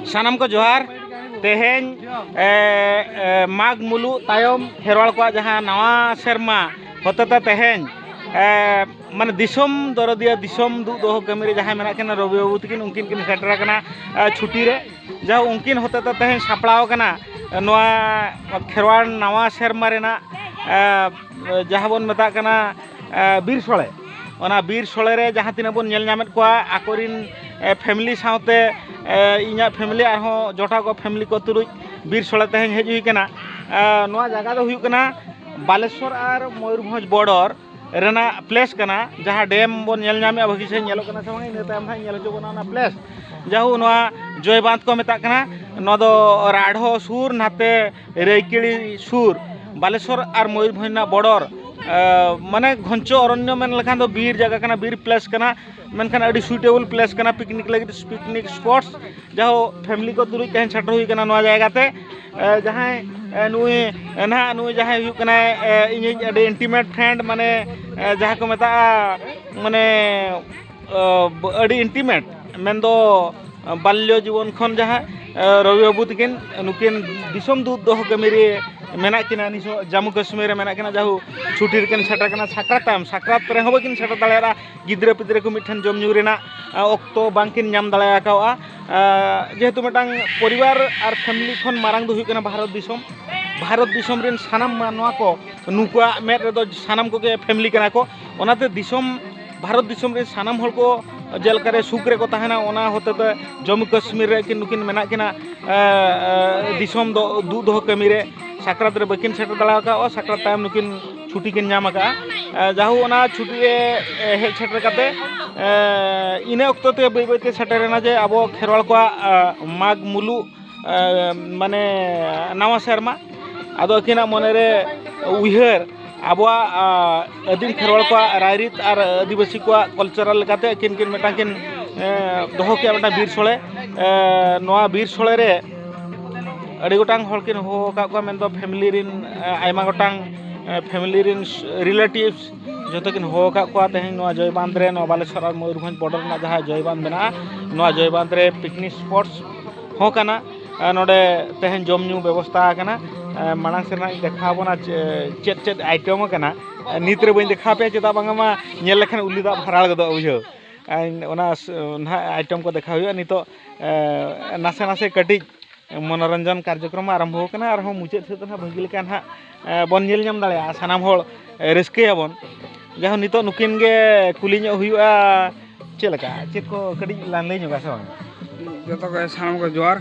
ᱥᱟᱱᱟᱢ ᱠᱚ ᱡᱚᱦᱟᱨ ᱛᱮᱦᱮᱧ ᱢᱟᱜᱽ ᱢᱩᱞᱩᱜ ᱛᱟᱭᱚᱢ ᱠᱷᱮᱨᱣᱟᱲ ᱠᱚᱣᱟᱜ ᱡᱟᱦᱟᱸ ᱱᱟᱣᱟ ᱥᱮᱨᱢᱟ ᱦᱚᱛᱮᱛᱮ ᱛᱮᱦᱮᱧ ᱢᱟᱱᱮ ᱫᱤᱥᱚᱢ ᱫᱚᱨᱚᱫᱤᱭᱟᱹ ᱫᱤᱥᱚᱢ ᱫᱩᱜ ᱫᱚᱦᱚ ᱠᱟᱹᱢᱤ ᱨᱮ ᱡᱟᱦᱟᱸᱭ ᱢᱮᱱᱟᱜ ᱠᱤᱱᱟ ᱨᱚᱵᱤ ᱵᱟᱹᱵᱩ ᱛᱟᱹᱠᱤᱱ ᱩᱱᱠᱤᱱ ᱠᱤᱱ ᱥᱮᱴᱮᱨ ᱟᱠᱟᱱᱟ ᱪᱷᱩᱴᱤ ᱨᱮ ᱡᱟᱦᱟᱸ ᱩᱱᱠᱤᱱ ᱦᱚᱛᱮᱛᱮ ᱛᱮᱦᱮᱧ ᱥᱟᱯᱲᱟᱣ ᱟᱠᱟᱱᱟ ᱱᱚᱣᱟ ᱠᱷᱮᱨᱣᱟᱲ ᱱᱟᱣᱟ ᱥᱮᱨᱢᱟ ᱨᱮᱱᱟᱜ ᱡᱟᱦᱟᱸ ᱵᱚᱱ ᱢᱮᱛᱟᱜ ᱠᱟᱱᱟ ᱵᱤᱨ ᱥᱚᱲᱮ ᱚᱱᱟ ᱵᱤᱨ ᱥᱚᱲᱮ ᱨᱮ ᱡᱟᱦᱟᱸ ᱛᱤᱱᱟᱹᱜ ᱵᱚᱱ ᱧᱮᱞ ᱧᱟᱢᱮᱫ ᱠᱚᱣᱟ ᱟᱠᱚᱨᱤᱱ ᱯᱷᱮᱢᱮᱞᱤ ᱥᱟᱶᱛᱮ ᱤᱧᱟᱹᱜ ᱯᱷᱮᱢᱮᱞᱤ ᱟᱨᱦᱚᱸ ᱡᱚᱴᱟᱣ ᱠᱚ ᱯᱷᱮᱢᱮᱞᱤ ᱠᱚ ᱛᱩᱞᱩᱡ ᱵᱤᱨ ᱥᱚᱲᱮ ᱛᱮᱦᱮᱧ ᱦᱮᱡ ᱦᱩᱭ ᱠᱟᱱᱟ ᱱᱚᱣᱟ ᱡᱟᱭᱜᱟ ᱫᱚ ᱦᱩᱭᱩᱜ ᱠᱟᱱᱟ ᱵᱟᱞᱮᱥᱚᱨ ᱟᱨ ᱢᱚᱭᱩᱨᱵᱷᱚᱸᱡᱽ ᱵᱚᱨᱰᱚᱨ ᱨᱮᱱᱟᱜ ᱯᱞᱮᱥ ᱠᱟᱱᱟ ᱡᱟᱦᱟᱸ ᱰᱮᱢ ᱵᱚᱱ ᱧᱮᱞ ᱧᱟᱢᱮᱫᱼᱟ ᱵᱷᱟᱹᱜᱤ ᱥᱟᱺᱦᱤᱡ ᱧᱮᱞᱚᱜ ᱠᱟᱱᱟ ᱥᱮ ᱵᱟᱝ ᱤᱱᱟᱹ ᱛᱟᱭᱚᱢ ᱦᱟᱸᱜ ᱧᱮᱞ ᱦᱚᱪᱚ ᱵᱚᱱᱟ ᱚᱱᱟ ᱯᱞᱮᱥ ᱡᱟᱭᱦᱳᱠ ᱱᱚᱣᱟ ᱡᱚᱭ ᱵᱟᱸᱫᱷ ᱠᱚ ᱢᱮᱛᱟᱜ ᱠᱟᱱᱟ ᱱᱚᱣᱟ ᱫᱚ ᱨᱟᱰᱷᱚ ᱥᱩᱨ ᱱᱟᱛᱮ ᱨᱟᱹᱭᱠᱤᱲᱤ ᱥᱩᱨ ᱵᱟᱞᱮᱥᱚᱨ ᱟᱨ ᱢᱚᱭᱩᱨᱵᱷᱚᱸᱡᱽ ᱨᱮᱱᱟᱜ ᱵᱚᱰᱚᱨ ᱢᱟᱱᱮ ᱜᱷᱚᱱᱪᱚ ᱚᱨᱚᱱᱭᱚ ᱢᱮᱱ ᱞᱮᱠᱷᱟᱱ ᱫᱚ ᱵᱤᱨ ᱡᱟᱭᱜᱟ ᱠᱟᱱᱟ ᱵᱤᱨ ᱯᱞᱮᱥ ᱠᱟᱱᱟ ᱢᱮᱱᱠᱷᱟᱱ ᱟᱹᱰᱤ ᱥᱩᱴᱮᱵᱚᱞ ᱯᱞᱮᱥ ᱠᱟᱱᱟ ᱯᱤᱠᱱᱤᱠ ᱞᱟᱹᱜᱤᱫ ᱯᱤᱠᱱᱤᱠ ᱥᱯᱚᱴ ᱡᱟᱦᱳ ᱯᱷᱮᱢᱞᱤ ᱠᱚ ᱛᱩᱞᱩᱡ ᱛᱮᱦᱮᱧ ᱥᱮᱴᱮᱨ ᱦᱩᱭ ᱠᱟᱱᱟ ᱱᱚᱣᱟ ᱡᱟᱭᱜᱟ ᱛᱮ ᱡᱟᱦᱟᱸᱭ ᱱᱩᱭ ᱱᱟᱦᱟᱜ ᱱᱩᱭ ᱡᱟᱦᱟᱸᱭ ᱦᱩᱭᱩᱜ ᱠᱟᱱᱟᱭ ᱤᱧᱤᱡ ᱟᱹᱰᱤ ᱤᱱᱴᱤᱢᱮᱴ ᱯᱷᱨᱮᱱᱰ ᱢᱟᱱᱮ ᱡᱟᱦᱟᱸ ᱠᱚ ᱢᱮᱛᱟᱜᱼᱟ ᱢᱟᱱᱮ ᱟᱹᱰᱤ ᱤᱱᱴᱤᱢᱮᱴ ᱢᱮᱱᱫᱚ ᱵᱟᱞᱞᱚ ᱡᱤᱵᱚᱱ ᱠᱷᱚᱱ ᱡᱟᱦᱟᱸ ᱨᱚᱵᱤ ᱵᱟᱹᱵᱩ ᱛᱟᱹᱠᱤᱱ ᱱᱩᱠᱤᱱ ᱫᱤᱥᱚᱢ ᱫᱩᱛ ᱫᱚᱦᱚ ᱠᱟᱹᱢᱤ ᱨᱮ ᱢᱮᱱᱟᱜ ᱠᱤᱱᱟ ᱱᱤᱛᱚᱜ ᱡᱟᱹᱢᱩ ᱠᱟᱹᱥᱢᱤᱨ ᱨᱮ ᱢᱮᱱᱟᱜ ᱠᱤᱱᱟ ᱡᱟᱭᱦᱳᱠ ᱪᱷᱩᱴᱤ ᱨᱮᱠᱤᱱ ᱥᱮᱴᱮᱨ ᱠᱟᱱᱟ ᱥᱟᱠᱨᱟᱛ ᱛᱟᱭᱚᱢ ᱥᱟᱠᱨᱟᱛ ᱨᱮᱦᱚᱸ ᱵᱟᱹᱠᱤᱱ ᱥᱮᱴᱮᱨ ᱫᱟᱲᱮᱭᱟᱫᱟ ᱜᱤᱫᱽᱨᱟᱹ ᱯᱤᱫᱽᱨᱟᱹ ᱠᱚ ᱢᱤᱫ ᱴᱷᱮᱱ ᱡᱚᱢ ᱧᱩ ᱨᱮᱱᱟᱜ ᱚᱠᱛᱚ ᱵᱟᱝ ᱠᱤᱱ ᱧᱟᱢ ᱫᱟᱲᱮ ᱠᱟᱣᱫᱟ ᱡᱮᱦᱮᱛᱩ ᱢᱤᱫᱴᱟᱝ ᱯᱚᱨᱤᱵᱟᱨ ᱟᱨ ᱯᱷᱮᱢᱮᱞᱤ ᱠᱷᱚᱱ ᱢᱟᱨᱟᱝ ᱫᱚ ᱦᱩᱭᱩᱜ ᱠᱟᱱᱟ ᱵᱷᱟᱨᱚᱛ ᱫᱤᱥᱚᱢ ᱵᱷᱟᱨᱚᱛ ᱫᱤᱥᱚᱢ ᱨᱮᱱ ᱥᱟᱱᱟᱢ ᱢᱟᱱᱣᱟ ᱠᱚ ᱱᱩᱠᱩᱣᱟᱜ ᱢᱮᱫ ᱨᱮᱫᱚ ᱥᱟᱱᱟᱢ ᱠᱚᱜᱮ ᱯᱷᱮᱢᱮᱞᱤ ᱠᱟᱱᱟ ᱠᱚ ᱚᱱᱟᱛᱮ ᱫᱤᱥᱚᱢ ᱵᱷᱟᱨᱚᱛ ᱫᱤᱥᱚᱢ ᱨᱮ ᱥᱟᱱᱟᱢ ᱦᱚᱲ ᱠᱚ ᱡᱮᱞᱮᱠᱟ ᱨᱮ ᱥᱩᱠ ᱨᱮᱠᱚ ᱛᱟᱦᱮᱱᱟ ᱚᱱᱟ ᱦᱚᱛᱮ ᱛᱮ ᱡᱚᱢᱢᱩ ᱠᱟᱹᱥᱢᱤᱨ ᱨᱮ ᱠᱤᱱ ᱱᱩᱠᱤᱱ ᱢᱮᱱᱟᱜ ᱠᱤᱱᱟ ᱫᱤᱥᱚᱢ ᱫᱚ ᱫᱩᱜ ᱫᱚᱦᱚ ᱠᱟᱹᱢᱤ ᱨᱮ ᱥᱟᱠᱨᱟᱛ ᱨᱮ ᱵᱟᱹᱠᱤᱱ ᱥᱮᱴᱮᱨ ᱫᱟᱲᱮ ᱟᱠᱟᱫᱼᱟ ᱥᱟᱠᱨᱟᱛ ᱛᱟᱭᱚᱢ ᱱᱩᱠᱤᱱ ᱪᱷᱩᱴᱤ ᱠᱤᱱ ᱧᱟᱢ ᱟᱠᱟᱫᱼᱟ ᱡᱟᱦᱳ ᱚᱱᱟ ᱪᱷᱩᱴᱤ ᱨᱮ ᱦᱮᱡ ᱥᱮᱴᱮᱨ ᱠᱟᱛᱮ ᱤᱱᱟᱹ ᱚᱠᱛᱚ ᱛᱮ ᱵᱟᱹᱭ ᱵᱟᱹᱭ ᱛᱮ ᱥᱮᱴᱮᱨᱮᱱᱟ ᱡᱮ ᱟᱵᱚ ᱠᱷᱮᱨᱣᱟᱲ ᱠᱚᱣᱟᱜ ᱢᱟᱜᱽ ᱢᱩᱞᱩᱜ ᱢᱟᱱᱮ ᱱᱟᱣᱟ ᱥᱮᱨᱢᱟ ᱟᱫᱚ ᱟᱹᱠᱤᱱᱟᱜ ᱢᱚᱱᱮ ᱨᱮ ᱩᱭᱦᱟᱹᱨ ᱟᱵᱚᱣᱟᱜ ᱟᱹᱫᱤᱢ ᱠᱷᱮᱨᱣᱟᱲ ᱠᱚᱣᱟᱜ ᱨᱟᱭᱨᱤᱛ ᱟᱨ ᱟᱹᱫᱤᱵᱟᱹᱥᱤ ᱠᱚᱣᱟᱜ ᱠᱟᱞᱪᱟᱨᱟᱞ ᱞᱮᱠᱟᱛᱮ ᱟᱹᱠᱤᱱ ᱠᱤᱱ ᱢᱤᱫᱴᱟᱝ ᱠᱤᱱ ᱫᱚᱦᱚ ᱠᱮᱜᱼᱟ ᱢᱤᱫᱴᱟᱝ ᱵᱤᱨ ᱥᱳᱲᱮ ᱱᱚᱣᱟ ᱵᱤᱨ ᱥᱳᱲᱮ ᱨᱮ ᱟᱹᱰᱤ ᱜᱚᱴᱟᱝ ᱦᱚᱲ ᱠᱤᱱ ᱦᱚᱦᱚ ᱟᱠᱟᱫ ᱠᱚᱣᱟ ᱢᱮᱱᱫᱚ ᱯᱷᱮᱢᱮᱞᱤ ᱨᱮᱱ ᱟᱭᱢᱟ ᱜᱚᱴᱟᱝ ᱯᱷᱮᱢᱮᱞᱤ ᱨᱮᱱ ᱨᱤᱞᱮᱴᱤᱵᱷᱥ ᱡᱚᱛᱚ ᱠᱤᱱ ᱦᱚᱦᱚ ᱟᱠᱟᱫ ᱠᱚᱣᱟ ᱛᱮᱦᱮᱧ ᱱᱚᱣᱟ ᱡᱚᱭ ᱵᱟᱸᱫᱽ ᱨᱮ ᱱᱚᱣᱟ ᱵᱟᱞᱮᱥᱚᱨ ᱟᱨ ᱢᱚᱭᱩᱨᱵᱷᱚᱸᱡᱽ ᱵᱚᱰᱟᱨ ᱨᱮᱱᱟᱜ ᱡᱟᱦᱟᱸ ᱡᱚᱭ ᱵᱟᱸᱫᱽ ᱢᱮᱱᱟᱜᱼᱟ ᱱᱚᱣᱟ ᱡᱚᱭ ᱵᱟᱸᱫᱽ ᱨᱮ ᱯᱤᱠᱱᱤᱠ ᱥᱯᱚᱴᱥ ᱦᱚᱸ ᱠᱟᱱᱟ ᱟᱨ ᱱᱚᱰᱮ ᱛᱮᱦᱮᱧ ᱡᱚᱢ ᱧᱩ ᱵᱮᱵᱚᱥᱛᱷᱟ ᱟᱠᱟᱱᱟ ᱢᱟᱲᱟᱝ ᱥᱮᱫ ᱦᱟᱸᱜ ᱤᱧ ᱫᱮᱠᱷᱟᱣ ᱟᱵᱚᱱᱟ ᱪᱮᱫ ᱪᱮᱫ ᱟᱭᱴᱮᱢ ᱟᱠᱟᱱᱟ ᱱᱤᱛ ᱨᱮ ᱵᱟᱹᱧ ᱫᱮᱠᱷᱟᱣ ᱟᱯᱮᱭᱟ ᱪᱮᱫᱟᱜ ᱵᱟᱝ ᱢᱟ ᱧᱮᱞ ᱞᱮᱠᱷᱟᱱ ᱩᱞᱤ ᱫᱟᱜ ᱵᱷᱟᱨᱟᱲ ᱜᱚᱫᱚᱜᱼᱟ ᱵᱩᱡᱷᱟᱹᱣ ᱚᱱᱟ ᱱᱟᱦᱟᱜ ᱟᱭᱴᱮᱢ ᱠᱚ ᱫᱮᱠᱷᱟᱣ ᱦᱩᱭᱩᱜᱼᱟ ᱱᱤᱛᱚᱜ ᱱᱟᱥᱮ ᱱᱟᱥᱮ ᱠᱟᱹᱴᱤᱡ ᱢᱚᱱᱚᱨᱚᱧᱡᱚᱱ ᱠᱟᱨᱡᱚᱠᱨᱚᱢ ᱟᱨᱟᱢᱵᱷᱚ ᱟᱠᱟᱱᱟ ᱟᱨᱦᱚᱸ ᱢᱩᱪᱟᱹᱫ ᱥᱮᱫ ᱫᱚ ᱱᱟᱦᱟᱜ ᱵᱷᱟᱹᱜᱤ ᱞᱮᱠᱟ ᱱᱟᱦᱟᱜ ᱵᱚᱱ ᱧᱮᱞ ᱧᱟᱢ ᱫᱟᱲᱮᱭᱟᱜᱼᱟ ᱥᱟᱱᱟᱢ ᱦᱚᱲ ᱨᱟᱹᱥᱠᱟᱹᱭᱟᱵᱚᱱ ᱡᱟᱭᱦᱳᱠ ᱱᱤᱛᱚᱜ ᱱᱩᱠᱤᱱ ᱜᱮ ᱠᱩᱞᱤ ᱧᱚᱜ ᱦᱩᱭᱩᱜᱼᱟ ᱪᱮᱫ ᱞᱮᱠᱟ ᱪᱮᱫ ᱠᱚ ᱠᱟᱹᱴᱤᱡ ᱞᱟᱝ ᱞᱟᱹᱭ ᱧᱚᱜᱟ ᱥᱮ ᱵᱟᱝ ᱡᱚᱛᱚ ᱠᱚ ᱥᱟᱱᱟᱢ ᱠᱚ ᱡᱚᱦᱟᱨ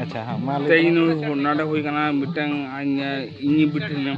ᱟᱪᱪᱷᱟ ᱦᱮᱸ ᱢᱟ ᱞᱟᱹᱭ ᱛᱮᱦᱮᱧ ᱱᱚᱰᱮ ᱦᱩᱭ ᱠᱟᱱᱟ ᱢᱤᱫᱴᱟᱝ ᱤᱧ ᱵᱤᱴᱤ ᱢᱮᱱᱟᱭᱟ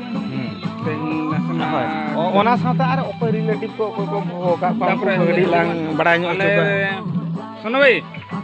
ᱦᱳᱭ ᱚᱱᱟ ᱥᱟᱶᱛᱮ ᱟᱨ ᱚᱠᱚᱭ ᱨᱤᱞᱮᱴᱤᱵᱷ ᱠᱚ ᱚᱠᱚᱭ ᱠᱚ ᱦᱚᱦᱚ ᱟᱠᱟᱫ ᱠᱚᱣᱟ ᱩᱱᱠᱩ ᱠᱚ ᱠᱟᱹᱴᱤᱡ ᱞᱟᱝ ᱵᱟᱲᱟᱭ ᱧᱚᱜ ᱦᱚᱪᱚ ᱠᱚᱣᱟ ᱥᱳᱱᱩ ᱵᱷᱟᱹᱭ